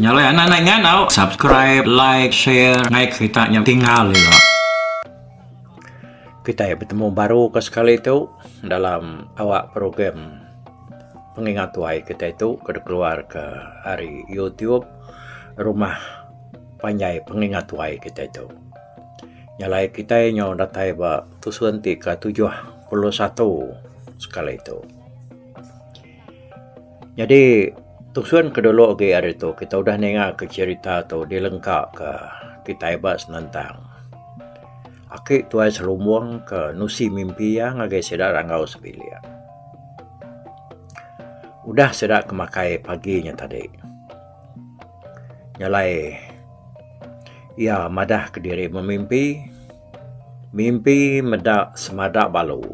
Nyalai anak nai ngandau subscribe like share ngai kerita nya tinggal ila. Kitai betemu baru ke sekali tu dalam awak program pengingat tuai kitai tu ke dikeluar ke ari YouTube rumah Panjai pengingat tuai kitai tu. Nyalai kitai nyau datai ba tusun ti ke tujuh puluh satu sekali tu. Nyadi tusun ke dulu agi ari tu kitai udah ninga ke cherita tu dilengka ke kitai ba senentang. Aki tuai selumbung ke nusi mimpi iya ngagai sida ranggau sebilik. Udah sida ke makai pagi nya tadi. Nya alai iya madah ke diri memimpi, mimpi meda semada balu.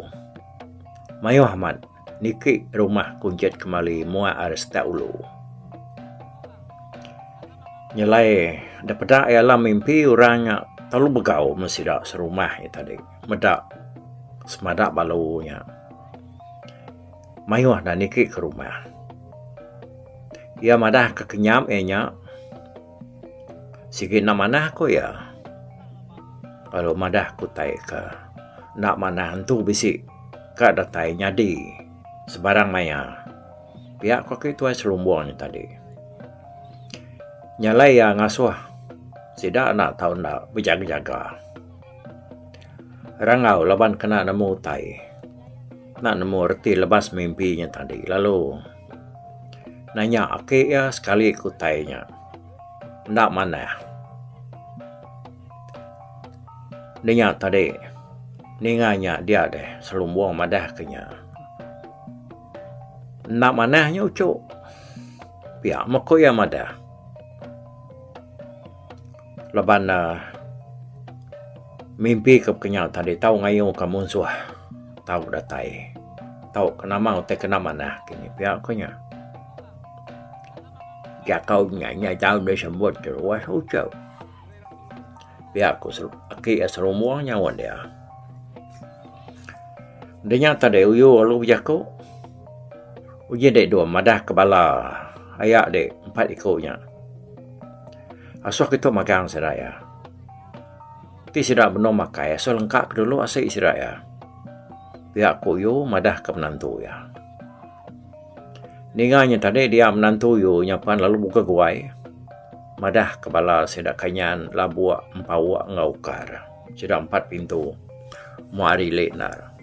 Mayuh amat niki rumah kunchit kemali muak ari setak ulu. Nya alai da peda iya lah mimpi orang nya telalu begau meh sida serumah iya tadi meda semada balu nya. mayuh enda niki ke rumah. Iya madah ke kenyap iya nya sigi enda manah ku iya lalu madah ke utai ke enda manah entu bisi ka datai nyadi sebarang maya pia ko ke tuai selumbung nya tadi. Nya alai iya ngasuh sida enda tau enda bejaga-jaga. Rangau laban kena nemu utai. Enda nemu reti lebas mimpi nya tadi lalu nanya aki iya sekali ke utai nya enda manah. Nya nya tadi ninga nya dia deh selumbung madah ke nya. Enda manah nya uchu pia meh ku iya madah. Laban ne mimpi ke kenyau tadi tau ngayuh ka munsuh tau datai tau ke nama utai ke enda manah kini pia ku nya. Jakau nya nya tau disebut ruas uchau. Pia ku aki serumong nyaut dia. De nya tadi uyu lalu bejaku uji dek dua madah ke bala aya dek empat iku nya. Asuh kitu magang sida iya. Ti sida benung makai asuh lengka ke dulu asik sida iya. Pia ku Yu madah ke menantu iya. Ninga nya tadi dia menantu Yu nya pan lalu bugeh guai madah ke bala sida Kanyan, Labuk, Empauk enggau Ukar. Sida empat pintu moh ari ili enda.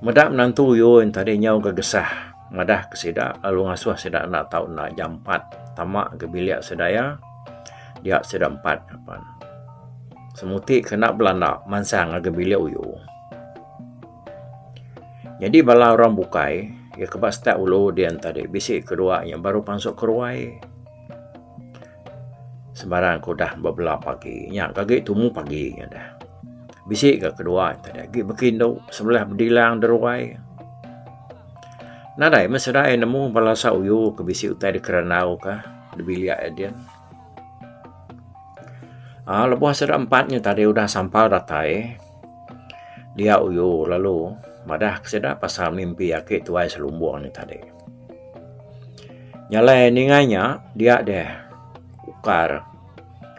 Meda menantu Yun tadi nyau ga gesah madah ke sida lalu ngasuh sida enda tau enda jampat tama ga bilik sida iya dia sida empat apan semuti ke enda belanda mansang ngagai bilik uyu. Nyadi bala orang bukai iya ke ba step ulu din tadi bisi ke dua iya baru pansut ke ruai. Sembarang ke udah bebela pagi nya ke agi tumu pagi nya dah. Bisi ke kedua nya da agi beki indu sebelah bedilang de ruai. Nadai meh sida iya nemu bala sauyu ke bisi utai de kerandau ka de bilik iya din. Aaa lebuh sida empat nya tadi udah sampal datai dia uyu lalu madah ke sida pasal mimpi aki tuai selumbung nya tadi. Nyalai ninga nya dia deh ukar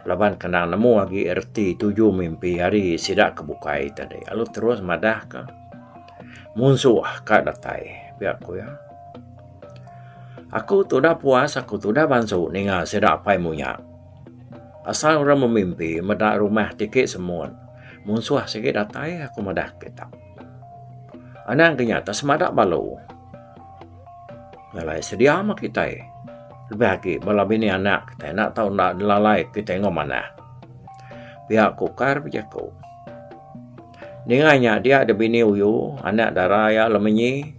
laban kendang nemu agi reti tuju mimpi hari sida ke bukai tadi lalu terus madah ka munsuh ka datai pia ku iya. Aku tu udah puas aku tu udah bansu ninga sida apai munya asal orang memimpi meda rumah ti ake semut munsuh sigi datai aku madah kita. Anang ke nyata semada balo ngalai sedia meh kitai lebih agi bala bini anak kitai enda tau nelalai kitai enggau manah. Pia ku kar bejaku. Ninga nya dia da bini uyu anak dara iya lemenyi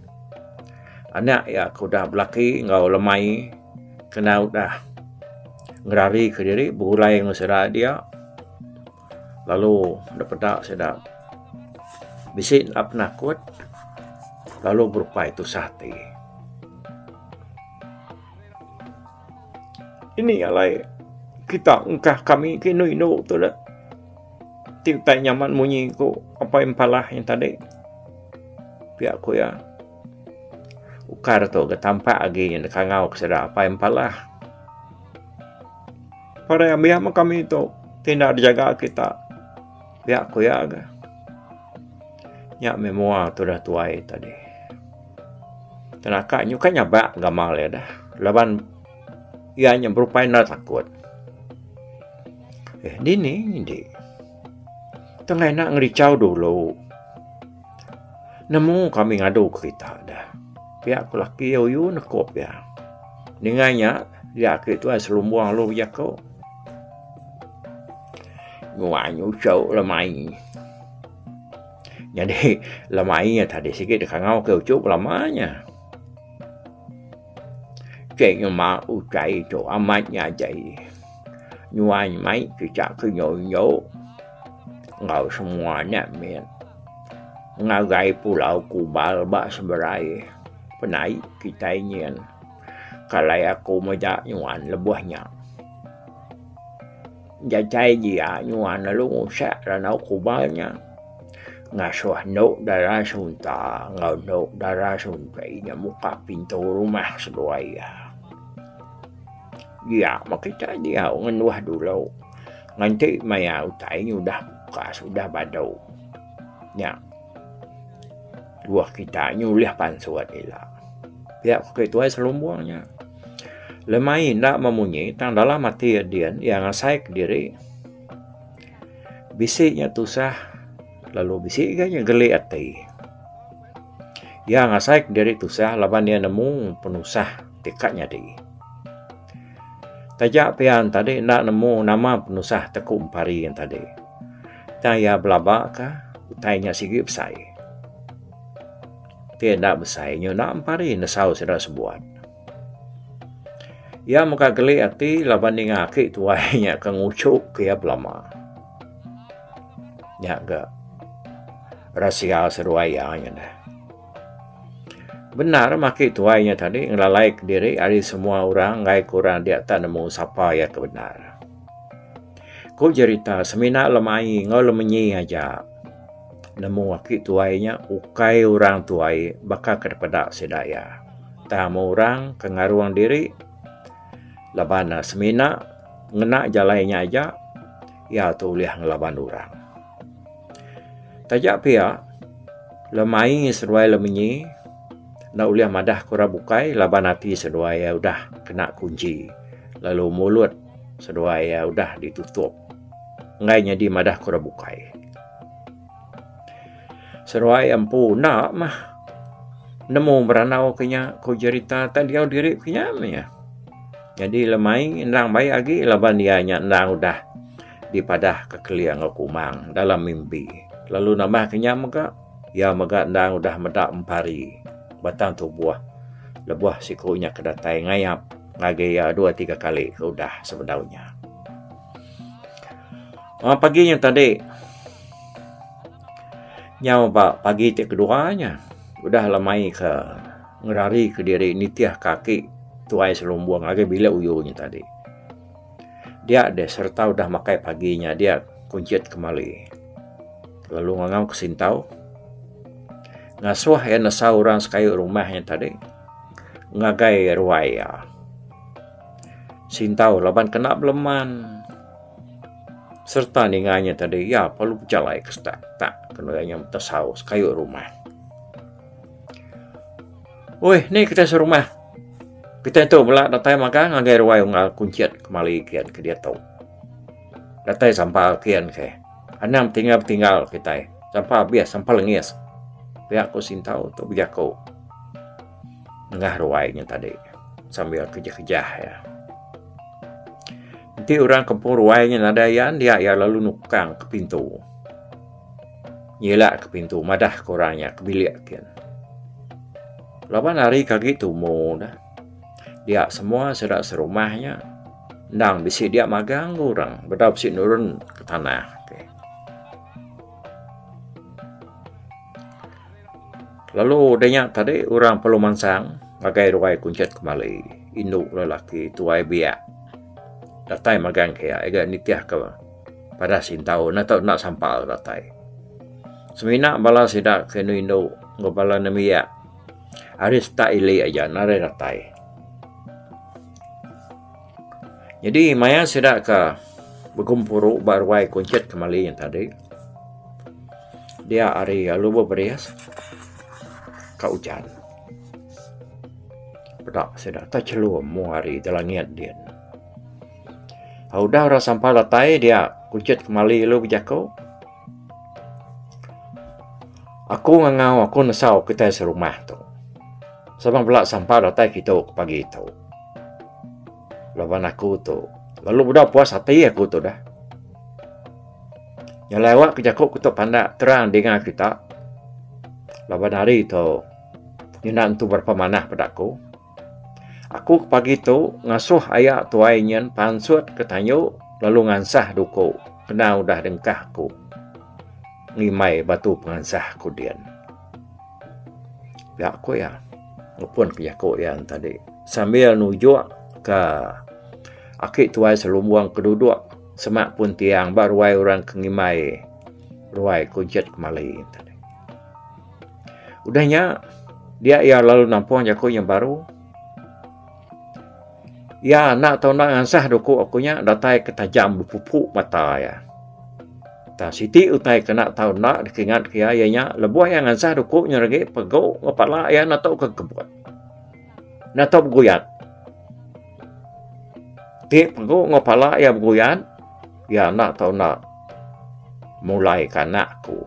anak iya ke udah belaki enggau lemai kena udah ngerari ke diri begulai enggau sida dia. lalu enda peda sida bisi enda penakut lalu berupai tusah ati. Ini alai kita engkah kami ke indu indu tu dah ti utai nyaman munyi ku Apai Impala yang tadi pia ku iya ukar tu ga tampak agi kangau ke sida Apai Impala. Pada ambiak mah kami tu tindak dijaga kita. Pia ku ya ga. Nya memoir tu dah tuai tadi. Tenaka nyu kan nyabak gamal ya dah. Laban ia nya berupai na takut. Eh, dini, dini. Tengah nak ngerichau dulu. Nemu kami ngadu kerita da. Pia ku laki Oyu nekup iya. Ninga nya dia ake tuai selumbung alu jaku. Nuai nyucu le mai. Nyadi le mai tadi sigi dikangau ke uchu belama nya. Ceh nyema utai tu amat nya jai. Nuan mai kitak ke nyo-nyo enggau semua anak mit. Ngagai pulau Kubal ba seberai penai kitai nyin. Kalai aku meda nuan lebuh nya. Jajai dia nyuan lalu ngusak randau kubal nya. Ngasuh endu dara sunta enggau endu dara sunti nya muka pintu rumah seduai iya. Dia meh kita diau ngenduh dulu nganti maya utai nya udah pukas udah badu. Nya tuoh kita nya ulih pansut ila. Pia ko Ketuai Selumbung nya. Lemai enda memunyi tang dalam ati iya din iya ngasai kediri bisi nya tusah lalu bisi lagi nya geli ati. Iya ngasai kediri tusah laban iya nemu penusah ti ka nyadi. Taja pian tadi enda nemu nama penusah ti ku empari tadi. Tang iya belabaka utai nya sigi besai. Ti enda besai nyuna empari nesau sida sebuat. Iya mega geli ati laban ninga aki tuai nya ke nguchup ke iya belama. Nya ga rasia seruai iya nya deh. Bendar maki tuai nya tadi ngelalai ke diri ari semua orang enggai ke orang dia tak nemu sapa iya ke bendar. Ku jerita semina lemai enggau lemenyi aja. Nemu aki tuai nya ukai orang tuai baka ke dipeda sida iya. Tang meh orang ke ngarung diri laban ne semina ngena jalai nya aja iya tu ulih ngelaban orang. Taja pia lemai seduai lemenyi enda ulih madah ke orang bukai laban ati seduai iya udah kena kunchi lalu mulut seduai iya udah ditutup. enggai nyadi madah ke orang bukai. Seruai empu enda mah nemu berandau ke nya ku jerita tak diau diri ke nya meh iya. Jadi lemai endang baik agi laban iya nya endang udah dipadah ke kelia enggau kumang dalam mimpi. Lalu nambah ke nya mega iya mega endang udah meda empari batang tubuh lebuh siku nya ke datai ngayap ngagai iya dua tiga kali ke udah sebedau nya. Amat pagi nya tadi nyau ba pagi ti kedua nya udah le mai ke ngerari kediri nitih ke aki tuai serumbong ngagai bilik uyu nya tadi. Dia deh sereta udah makai pagi nya dia kunchit kemali lalu ngangau ke sintau ngasuh iya nesa orang sekayu rumah nya tadi ngagai ruai iya. Sintau laban kena beleman sereta ninga nya tadi iya perlu bejalai ke sedak tak kenu iya nya betesau sekayu rumah. Uih nih kita serumah. Kita tu bela datai magang ngagai ruai unggal kuncit kemali kian ke diatu. Datai sampal kian ke. Anang betinggal betinggal kitai. Sampal abis sampal lengis. Pia ku sintau tu bejaku. nengah ruai nya tadi sambil kejah-kejah iya. Enti orang kempung ruai nya nadai iya, enda iya lalu nukang ke pintu. Nyilak ke pintu madah ke orang nya ke bilik kin. Laban hari ke agi tumu dah. Dia semua sida serumah nya endang bisi dia magang ke orang bedau bisi nurun ke tanah. Lalu udah nya tadi orang perlu mansang ngagai ruai kuncit kembali indu lelaki tuai biak datai magang ke iya ga nitih ke padah sintau enda tau enda sampal ke datai. Semina bala sida ke indu indu enggau bala nembiak ari setak ili aja narai datai. Nyadi maya sida ka begempuru ba ruai kunchit kemali nya tadi dia ari alu beberis ka ujan peda sida techelum mung ari da langit din. Tau udah ira sampal datai dia kunchit kemali alu bejaku aku ngangau aku nesau kitai serumah tu. Sebang bala sampal datai kitu pagi tu. Laban aku tu lalu udah puas ati aku tu dah. Yang lewat ke jaku aku tu pandak terang dengar kita. Laban hari tu nyenda entu berapa manah pada aku. Aku ke pagi tu ngasuh ayak tuai nyen pansut ke tanyu lalu ngansah duku kena udah dengkah aku ngimai batu pengansah aku din. Pia ku iya ngupun ke jaku iya tadi sambil nujuk ka aki tuai selumbung ke duduk sema pun tiang ba ruai orang ke ngimbai ruai Kunchit Kemali. Udah nya dia iya lalu nampung jaku nya baru. Iya enda tau nda ngansah doku aku nya datai ke tajam bepupu mata iya. Tang siti utai ke enda tau nda dikingat ke iya iya nya lebuh iya ngansah doku nya agi pegu enggau pala iya enda tau ke kebut. Enda tau beguyat. Ti pegu enggau pala iya beguyat iya enda tau nda mulai ke anak aku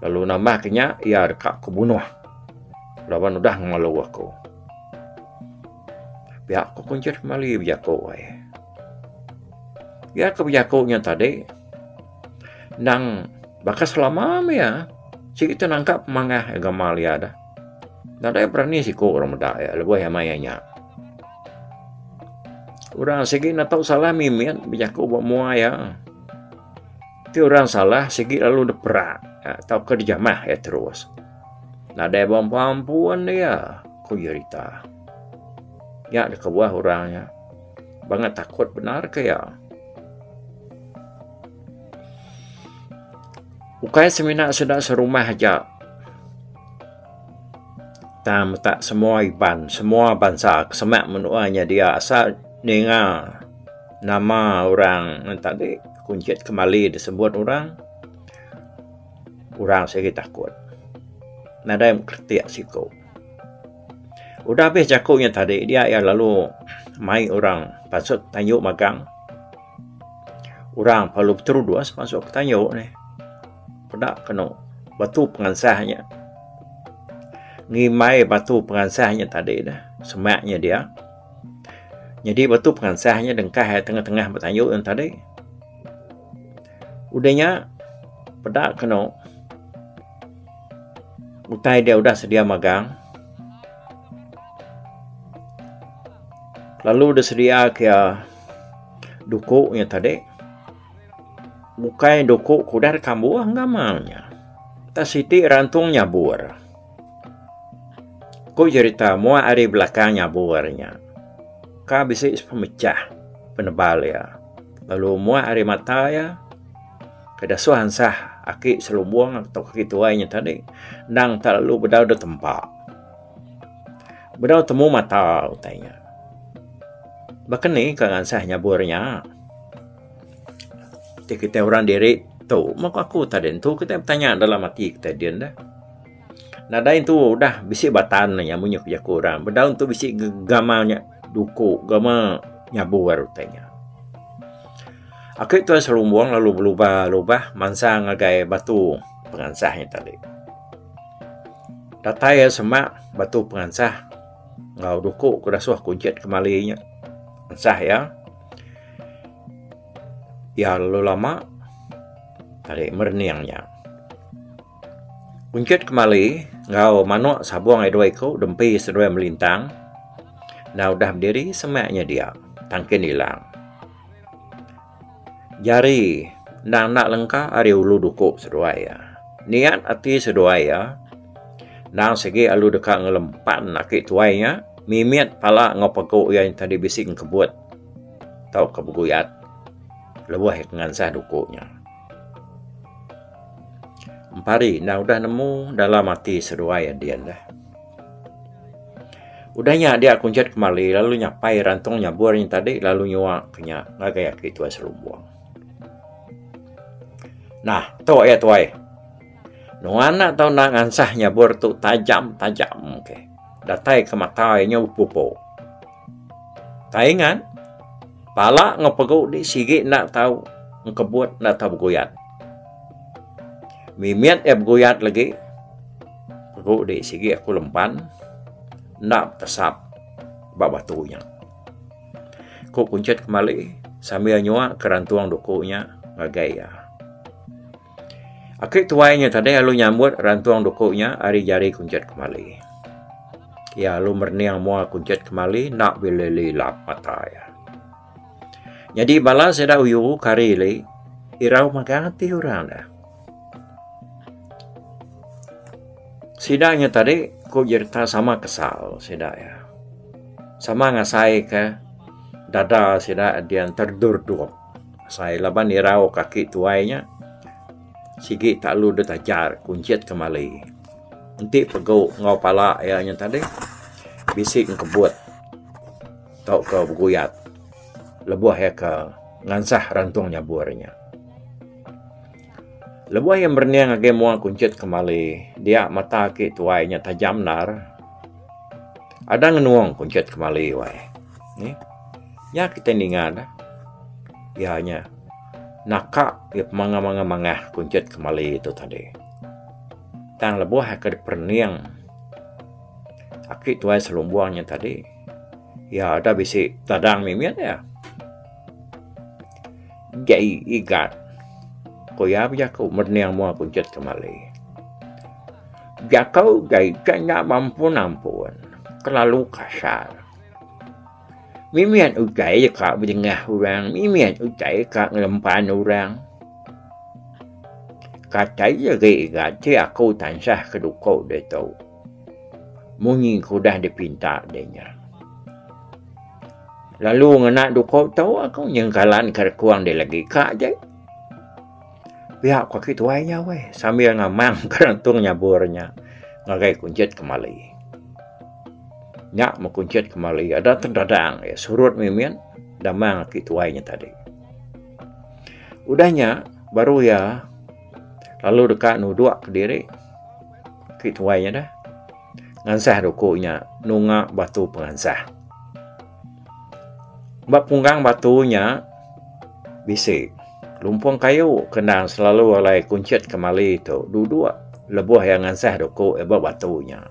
lalu nambah ke nya iya deka ke bunuh laban udah ngelu aku. Pia ku kunchie meli bejaku ai. Pia ku bejaku nya tadi nang baka selama meh iya siti tu nangka pemangah agama iya dah. Nadai berani siku orang meda iya lebuh iya maya nya. Orang sigi ne tau salah mimit bejaku ba mua iya. Ti orang salah sigi lalu dipera tauka dijamah iya terus. Nadai bemampun iya, ku jerita nya dikebuah orang nya banget takut bendar ke iya. Ukai semina sida serumah aja tang meta semua Iban, semua bansa ke semak menua nya dia asal ninga nama orang enti agi kunchit kemali disebut orang. Orang sigi takut. Nadai kretik siku. Udah abis jaku nya tadi dia iya lalu mai orang pasut tayu magang. Orang perlu beterudus masuk ke tayu nih. Peda kenu batu pengansah nya. Ngimbai batu pengansah nya tadi dah. Semak nya dia. Nyadi batu pengansah nya dengkah iya tengah-tengah ba tayu nya tadi. Udah nya peda kenu utai dia udah sedia magang lalu dia sedia ke iya duku nya tadi bukai duku ke udah dikambuh enggama nya. Utai siti rantung nyabur. Ku jerita mua hari belakang nyabu hari nya ka bisi sepemechah penebal iya lalu mua hari mata iya ke dasuh ansah aki selumbung atau aki tuai nya tadi endang enda lalu bedau dep tempa bedau temu mata utai nya. Baka ni ka ngansah nyabu hari nya ti kitai orang diri tu mung ku aku tadi tu kitai betanya dalam ati kitai din deh. Nadai tu udah bisi batan nya amun inya ku jaku orang. Ba daun tu bisi gama nya duku, gama nyabu ari utai nya. Aku tuan serumbung lalu belubah lubah mansang ngagai batu pengansah nya tadi. Datai iya sema batu pengansah enggau duku ku dasuh ku jit kemali nya. Ensah iya. Iya lalu lama tarik merening nya. Kunchit kemali enggau manuk sabung ai dua iku dempi seduai melintang. Enda udah bediri semak nya dia tang kin ilang. Jari endang enda lengka ari ulu duku seduai iya. Niat ati seduai iya endang sigi alu deka ngelempan aki tuai nya mimit pala enggau pegu iya nya tadi bisi ngkebut tauka beguyat lebuh iya ke ngansah duku nya. Empari enda udah nemu dalam ati seduai a din deh. Udah nya dia kunchit kemali lalu nyapai rantung nyabur nya tadi lalu nyua ke nya ngagai aki tuai serumbong. Nah, tu iya tuai. Nuan enda tau enda ngansah nyabur tu tajam-tajam ke. Datai ke mata iya nya upu-upu. Kai ngan pala enggau pegu di sigi enda tau engkebut enda tau beguyat. Mimit iya beguyat legi pegu di sigi aku lemban enda betesap ba batu nya. Ku kunchit kemali sambil nyua ke rantung duku nya ngagai iya. Aki tuai nya tadi lalu nyambut rantung duku nya ari jari kunchit kemali. Iya lalu merening mua kunchit kemali enda bilih lilap mata iya. Nyadi bala sida uyu ke hari ili irau magang ati orang ne. Sida nya tadi ku jerita sama kesal sida iya. Sama ngasaika dada sida dian terdurdup. Asai laban irau kaki tuai nya sigi talu deh tajar kunchit kemali. Enti pegu enggau pala iya nya tadi bisi ngkebut tauka beguyat lebuh iya ke ngansah rantung nyabur nya. Lebuh iya merening ngagai mua kunchit kembali, dia mata aki tuai nya tajam endar. Ada ngenung kunchit kembali wai. Nih. Nya kitai ninga ne. Iya nya naka iya pemangah-mangah mangah kunchit kembali tu tadi. Tang lebuh iya ke diperening aki tuai selumbung nya tadi, iya ada bisi tadang mimit iya. Jai Igat, ku iya bejaku mening mua kunchit kemali. Jaku Jai Igat nya beampun-ampun, kelalu kasar. Mimit utai ka bedengah orang, mimit utai ka ngelempan orang. Kata iya agi Igat, ti aku tansah ke duko ditu. Munyi ke udah dipinta deh nya. Lalu ngena duko tu aku nyengkalan ke rekung deh lagi ka je. Pia ko agi tuai nya weh sambil ngamang ke rentung nyabur nya ngagai kunchit kemali. Nya meh kunchit kemali ada te dadang iya surut mimin damang agi tuai nya tadi. Udah nya baru iya lalu deka nudok kediri. Ti tuai nya dah. Ngansah ruku nya nunga batu pengansah. Ba punggang batu nya bisi lumpung kayu ke endang selalu alai kunchit kemali tu duduk lebuh iya ngansah ruku iya ba batu nya.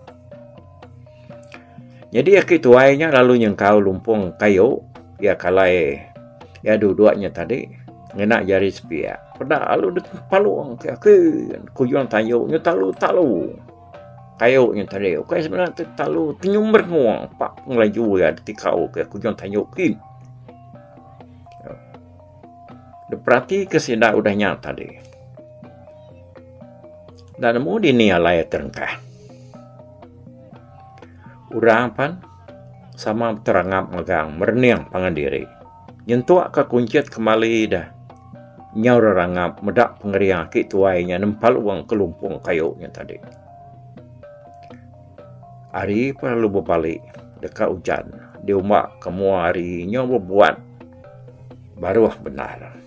Nyadi aki tuai nya lalu nyengkau lumpung kayu iya kalai iya duduk nya tadi ngena jari sepiak peda lalu dep palung ke aki kujung tayu nya talu talu kayu nya tadi ukai semina ti talu ti nyumber wong pa pengelaju iya ditikau ke kujung tayu ki. Dep peratika sida udah nya tadi. Enda nemu dini alai terengkah. Orang pan sama beterangap megang merening pangan diri. Nyentuk ka kunchit kemali dah. Nyau rerangap meda pengering aki tuai nya nempal wang kelumpung kayu nya tadi. Ari pa lu bebali deka ujan diumba ke mua ari nyau bebuat baruh bendar.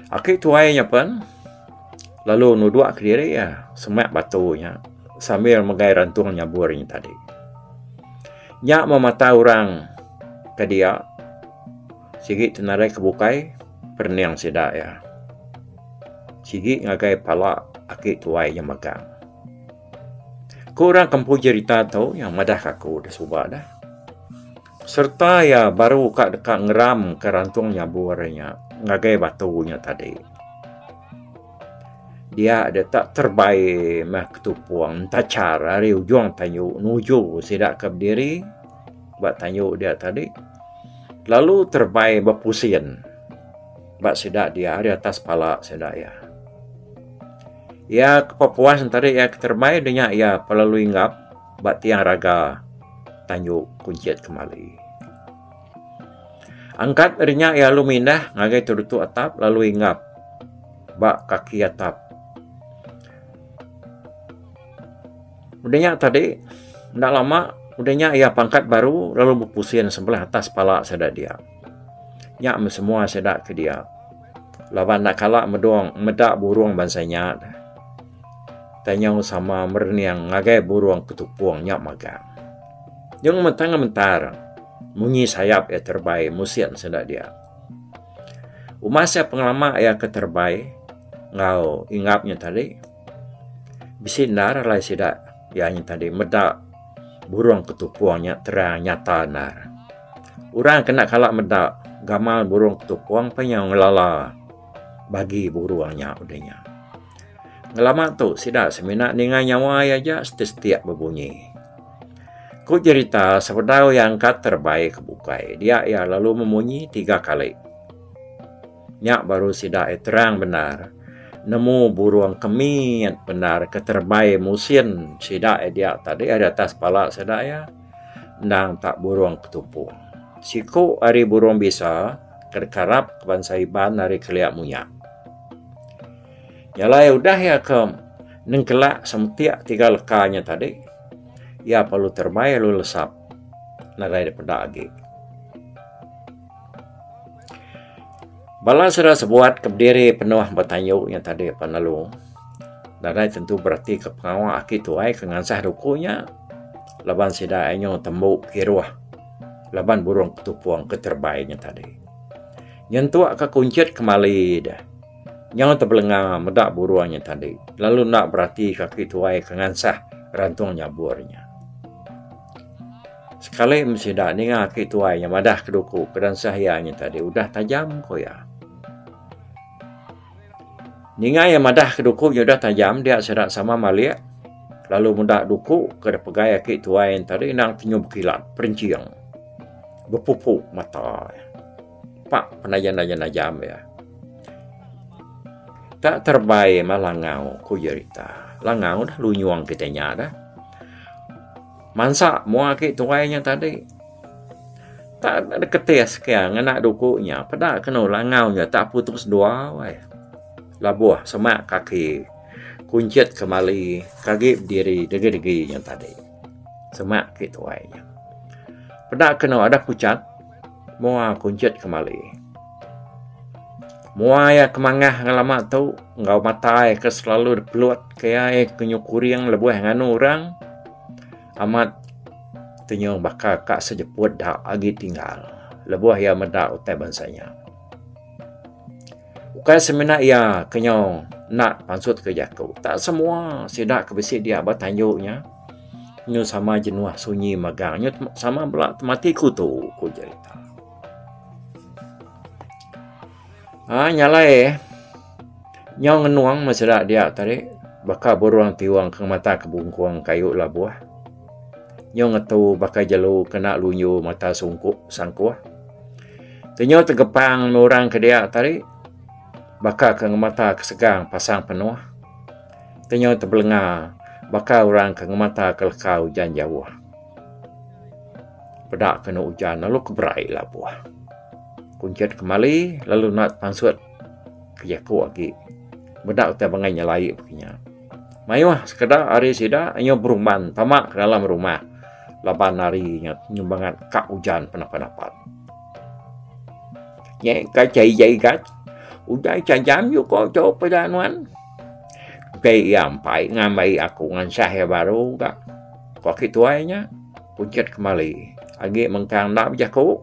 Aki tuai nya pen lalu nudok kediri iya semak batu nya sambil megai rantung nyabur nya tadi. Nya meh mata orang ke dia sigi ti nadai ke bukai perening sida iya. Sigi ngagai pala aki tuai nya megang. Ku orang kampung jerita tu yang madah aku da suba deh. Sereta iya baru ka deka ngeramka rantung nyabur nya ngagai batu nya tadi. Dia deka terbai meh ketupung entachar ari ujung tanyu nuju sida ke bediri ba tanyu dia tadi lalu terbai bepusin ba sida dia ari atas pala sida iya. Iya ke pepuas enti iya keterbai deh nya iya pelalu inggap. ba tiang raga tanju kunchit kemali. Angkat ari nya iya lalu mindah ngagai terutu atap lalu inggap ba kaki atap. Udah nya tadi enda lama udah nya iya pangkat baru lalu bepusin sebelah atas pala sida dia. Nya meh semua sida ke dia laban enda kala medong meda burung bansa nya. Tanyau sama merening ngagai burung ketupung nya magang. Nyau ngementang ngementar munyi sayap iya terebai musin sida dia. Umas iya pengelama iya ke terebai enggau ingap nya tadi bisi endar alai sida iya nya tadi meda burung ketupung nya terang nyata endar. Orang ke enda kala meda gamal burung ketupung panyau ngelala bagi burung nya udah nya. Ngelama tu sida semina ninga nyawa iya aja setistik bebunyi. Ku jerita sebedau iya angkat terebai ke bukai dia iya lalu memunyi tiga kali. Nya baru sida iya terang bendar nemu burung ke mit bendar ke terebai musin sida iya dia tadi ari atas pala sida iya endang tak burung ketupu. Siku ari burung bisa ke dikarap bansa Iban ari kelia munya. Nya alai udah iya ke nengkala semetik tiga leka nya tadi iya perlu terbai lalu lesap nadai dep peda agi. Bala sida sebuat ke diri penuh betanyu nya tadi pan lalu nadai tentu bereti ke pengawa aki tuai ke ngansah duku nya laban sida inyu tembu kiruh laban burung ke tupung ke terbai nya tadi. Nyentuk ka kunchit kemali deh. Nyau tebelenga meda burung nya tadi lalu enda berati kaki tuai ke ngansah rantung nyabur nya. Sekali meh sida ninga aki tuai nya madah ke duku ke dansah iya nya tadi udah tajam ku iya. Ninga iya madah ke duku nya udah tajam dia sida sama malik lalu meda duku ke dipegai aki tuai nya tadi endang tenyum kilat perinching. bepupu mata iya. Pak penayan-nayan ajam iya. Tak terbai mah langau ku jerita. Langau dah lunyung kitai nya dah. Mansa mua agi tuai nya tadi. Tak ada ketis ke ngena duku nya. Peda kenu langau nya tak putus dua weh. Labuh semak kaki kunchit kemali kagi bediri degi-degi nya tadi. Semak ke tuai nya. Peda keno ada kuchat mua kunchit kemali. Mua iya kemangah ngelama tu enggau mata iya ke selalu depelot ke iya iya ke nyu kuring lebuh nganu orang amat tenyong baka ka sejeput da agi tinggal lebuh iya meda utai bansa nya. Ukai semina iya ke nyau enda pansut ke jaku. Tak semua sida ke bisi dia ba tanju nya nyu sama jenuh sunyi mega nyu sama bala temati kutu ku jerita. Ai nyalai eh nyau ngenung meh sida dia tadi baka burung tiung ke mata ke bungkung kayu labuh. nyu ngetu baka jelu kena lunyu mata sungkup sangkuh ke nyu tegepang endur orang ke dia tadi baka ke ngemata ke segang pasang penuh ke nyu tebelenga baka orang ke ngemata ke leka ujan jauh peda ke enu ujan lalu ke berai labuh kunchit kemali lalu nut pansut ke jaku agi meda utai bangai nyelai pekenya. Mayuh sekeda ari sida inya berumban tama ke dalam rumah laban hari nya nyumbangat ka ujan penapa-napa. Nya ka cai jai gat. Udah cajam yu ko jo peda nuan. Kai ya ampai ngambai aku ngansah ya baru ga. Ko ki tuai nya. Pucet kemali. Agi mengkang enda bejaku.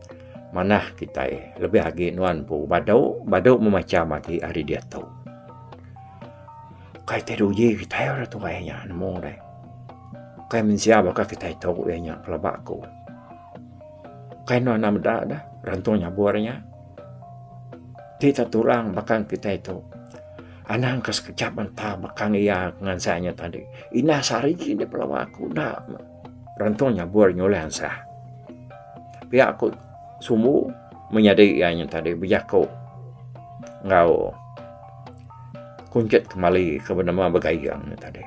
Manah kitai, lebih agi nuan empu badu, badu meh macham agi ari diatu. Kai ti dulu uji kitai orang tuai inya nemu deh. Kai mensia baka kitai tu iya nya pelaba aku. Kai nuan enda meda deh rantung nyabur inya. Ti tah tulang bakang kitai tu. Anang ke sekejap entah bakang iya ngansa inya tadi. Indah sehari ji deh pelaba aku enda. Rantong nyabur nyulai ansah. Pia aku sumbu menyadi iya nyen tadi bejaku enggau kunchit kemali ke benema begayeng nyen tadi.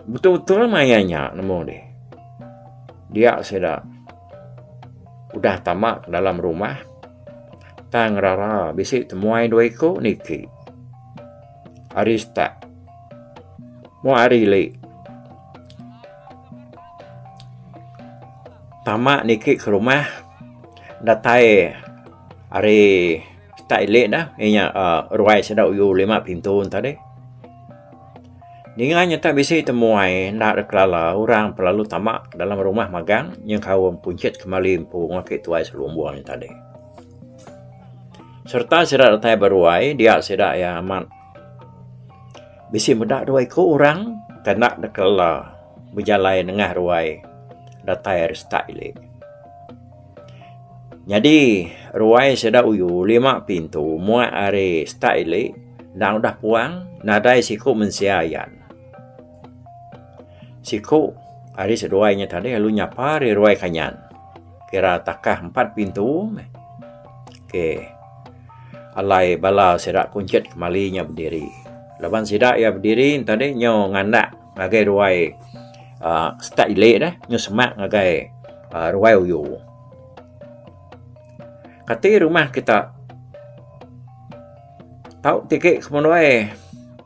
Betul-betul maya nya nemu di. Dia sida udah tama ke dalam rumah tang rara bisi temuai dua iku niki. Hari start. Mu hari lek. Tama niki ke rumah datai hari start lek dah inya ruai sida uyu lima pintu enta deh. Ninga nyata bisi te muai enda deh kelala orang pe lalu tama dalam rumah magang nyengkaum punchit kemali empu ake tuai selumbung enta deh. Sereta sida datai beruai dia sida iya amat bisi meda dua iku orang ke enda deka ela bejalai nengah ruai datai ari setak ili. Nyadi ruai sida uyu lima pintu muak ari setak ili enda udah puang nadai siku mensia ayan. Siku ari seduai nya tadi lalu nyapa ari ruai kanyan. kira takah empat pintu meh. Ok. Alai bala sida kunchit kemali nya bediri. Laban sida iya bediri enta deh nyu nganak ngagai ruai aaa stat ili deh, nyu semak ngagai aaa ruai uyu. Kati rumah kita tau tigi ke menua e.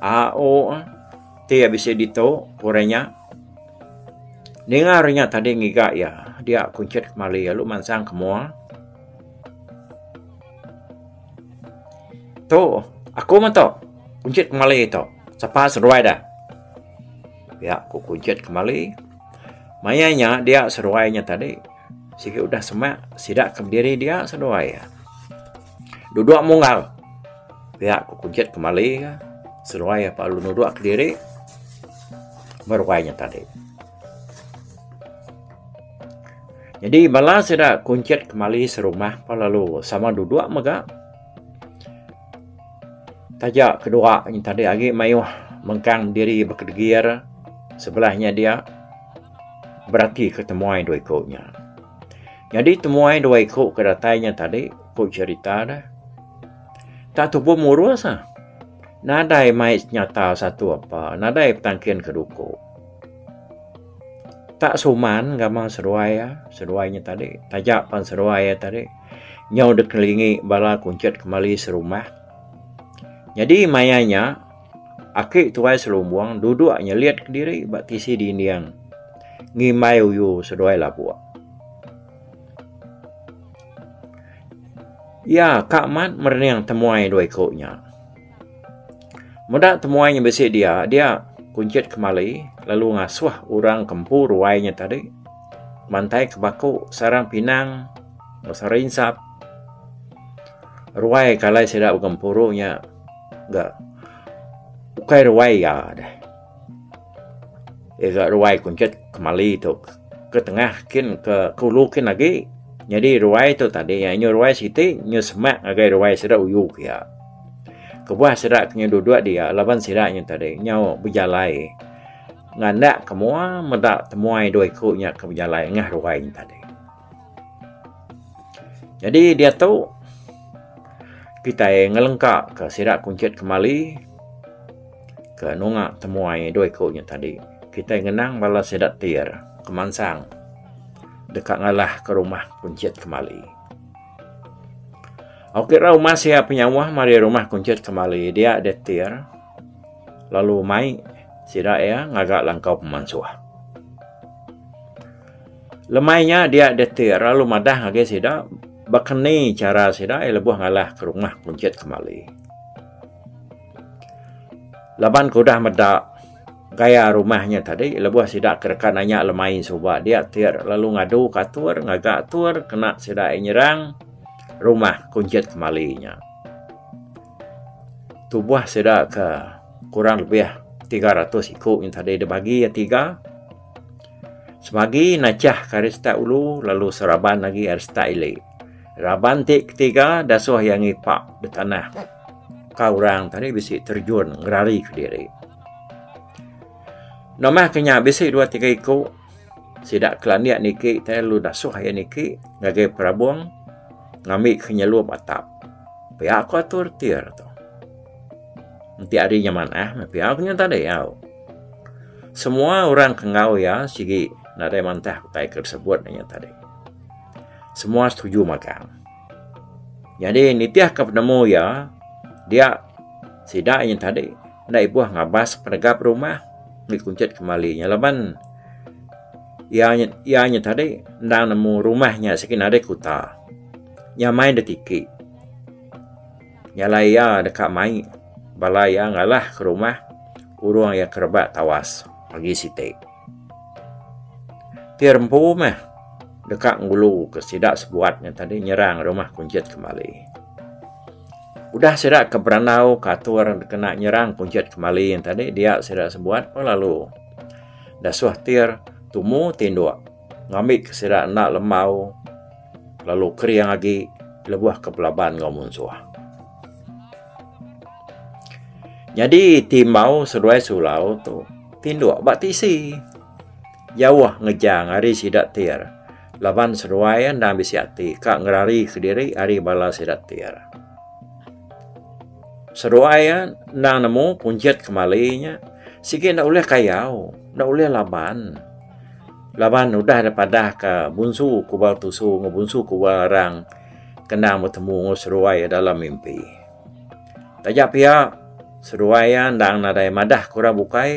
Aau ti iya bisi ditu ku orang nya. Ninga orang nya tadi ngiga iya, dia kunchit kemali lalu mansang ke mua. Tu, aku mah tu. Kunchit kemali tu. Sapa seduai deh? Pia ku kunchit kemali. Maya nya dia seduai nya tadi sigi udah semak sida ke bediri dia seduai. Duduk munggal. Pia ku Kujit kemali ka. Seruai apa lalu nuduk kediri. Meruai nya tadi. Jadi bala sida Kujit kemali serumah apa lalu sama duduk mega. Taja kedua nya tadi agi mayuh mengkang diri bekedegir sebelahnya dia berati ketemuai dua iku nya. Nyadi temuai dua iku ke datai nya tadi ku cherita da tak tupu murus ah. Nadai mai nyata satu apa, nadai petangkin ke duku. Tak suman gamal seduai ah, seduai nya tadi. Taja pan seduai nya tadi nyau dek ngelingi bala kunchit kemali serumah. Nyadi maya nya Aki tuai selumbung duduk nyelit kediri ba tisi dinding ngimbai uyu seduai labuk. Iya ka amat merening temuai dua iku nya. Meda temuai nya bisi dia, dia kunchit kemali lalu ngasuh orang ke empu ruai nya tadi mantai ke baku sarang pinang enggau sarang insap ruai ke alai sida begempuru nya. ga ukai ruai iya deh. Iya ga ruai kunchit kemali tu ke tengah kin ke ke ulu kin agi. Nyadi ruai tu tadi iya inya ruai siti inya semak ngagai ruai sida uyu ke iya. Kebuah sida ke inya duduk dia laban sida inya tadi nyau bejalai ngandakka mua meda temuai dua iku nya ke bejalai ngah ruai nya tadi. Nyadi diatu kitai ngelengka ka sida kunchit kemali ke nunga temuai dua iku nya tadi. Kitai ngenang bala sida ti iya re kemansang deka ngalah ka rumah kunchit kemali. Ok ra umas iya penyauh mari rumah kunchit kemali dia deh ti iya re lalu mai sida iya ngaga langkau pemansuh. Lemai nya dia detir lalu madah agi sida baka ni chara sida iya lebuh ngalah ke rumah kunchit kemali. Laban ke udah meda gaya rumah nya tadi lebuh sida ke deka nanya lemai suba dia tir lalu ngadu ke atur ngaga atur kena sida iya nyerang rumah kunchit kemali nya. Tubuh sida ke kurang lebih tiga ratus iku nya tadi dibagi iya tiga. Semagi nachah ke ari stat ulu lalu seraban agi ari stat ili. Raban ti ketiga dasuh iya ngipak da tanah ka orang tadi bisi terjun ngerari ke diri. Nambah ke nya bisi dua tiga iku sida ke landik niki tai lalu dasuh iya niki ngagai perabung ngambi ke nyelup atap. Pia ku atur ti re tu. Enti ari nya manah meh pia ku nya enta diau. Semua orang ke enggau iya sigi nadai mantah utai ke disebut inya tadi. Semua setuju magang. Nyadi nitihka penemu iya dia sida inya tadi enda ibuh ngabas penegap rumah ngi kunchit kemali nya laban iya nya iya nya tadi enda nemu rumah nya sigi nadai kuta. Nyamai nda tiki. Nyalai iya deka mai bala iya ngalah ke rumah urung iya ke rebak tawas agi siti. Ti rempu meh deka ngulu ke sida sebuat nya tadi nyerang rumah Kunchit kembali. Udah sida ke berandau ke atur dikena nyerang Kunchit kembali nya tadi dia sida sebuat pun lalu dasuh Tir tumu tinduk ngambika sida enda lembau Lalu kering agi lebuh ke belaban enggau munsuh. Nyadi ti embau seduai sulau tu tinduk ba tisi. Jauh ngejang ari sida tir laban seduai endang bisi ati ka ngerari kediri ari bala sida tir. Seduai endang nemu kunjit kemali nya sigi enda ulih kayau, enda ulih laban. Laban udah deh padah ka bunsu kubal tusu enggau bunsu kubal arang ke endang betemu enggau seduai iya dalam mimpi. Taja pia seduai iya endang nadai madah ke orang bukai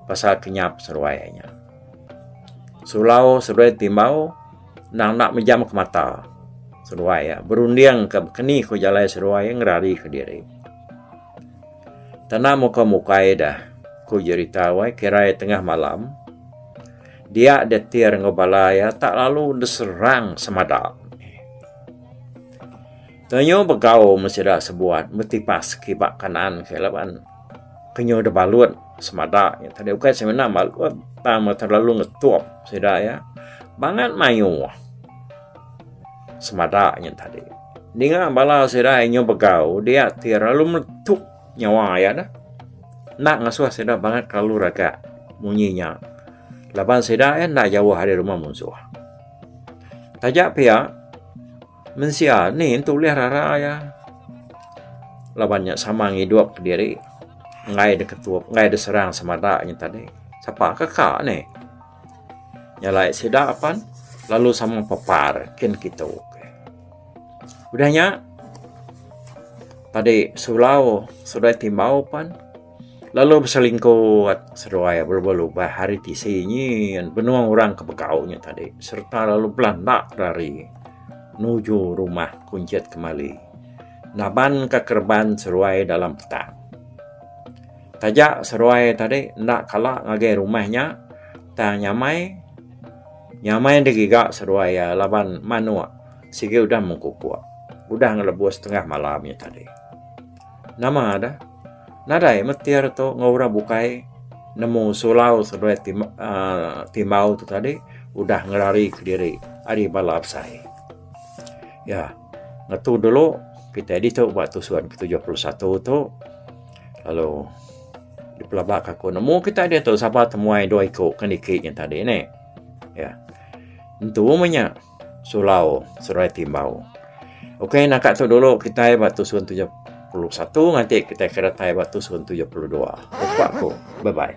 pasal kenyap seduai iya nya. Sulau seduai timbau endang enda mejam ke mata seduai iya berunding ke keni ku jalai seduai iya ngerari ke diri. Tanam uka mukai dah, ku Jerita wai kirai tengah malam. Dia detir enggau bala iya tak lalu deserang semada. Tenyu begau meh sida sebuat betipas kiba kanan ke laban tenyu debalut semada iya tadi ukai semina balut tang terlalu ngetup sida iya bangat mayuh. semada nya tadi. Ninga bala sida inyo begau dia ti lalu meletup nyawa iya dah. Enda ngasuh sida bangat kelalu raga munyi nya. Laban sida iya enda jauh ari rumah munsuh. Taja pia mensia ni entu ulih rara iya laban nya sama ngidup diri enggai diketup enggai diserang semada nya tadi. Sapa ke ka ni? Nyalai sida apan lalu sama pepar kin kitu. Udah nya padi sulau seduai timbau pan lalu beselingkot seduai bela-bela lubah hari tisi nyin benung orang ke begau nya tadi sereta lalu belanda kedari nuju rumah kunchit kemali nabanka kereban seduai dalam petak. Taja seruai tadi enda kala ngagai rumah nya tang nyamai nyamai digiga seruai iya laban manuk sigi udah mengkupuk udah ngelebuh setengah malam nya tadi. Nama deh nadai metir tu enggau orang bukai nemu sulau seduai aaa timbau tu tadi udah ngelari kediri ari bala besai. Iya ngetu dulu kitai ditu ba tusun ke tujuh puluh satu tu. Lalu dipelabak ke aku. Nemu kita dia tu sabar temuai dua iku kan dikit yang tadi ni. Ya. Entu menya sulau serai timbau. Okey nak tu dulu kita ba tusun 71 nganti kita kira tai ba tusun 72. Jumpa aku. Bye bye.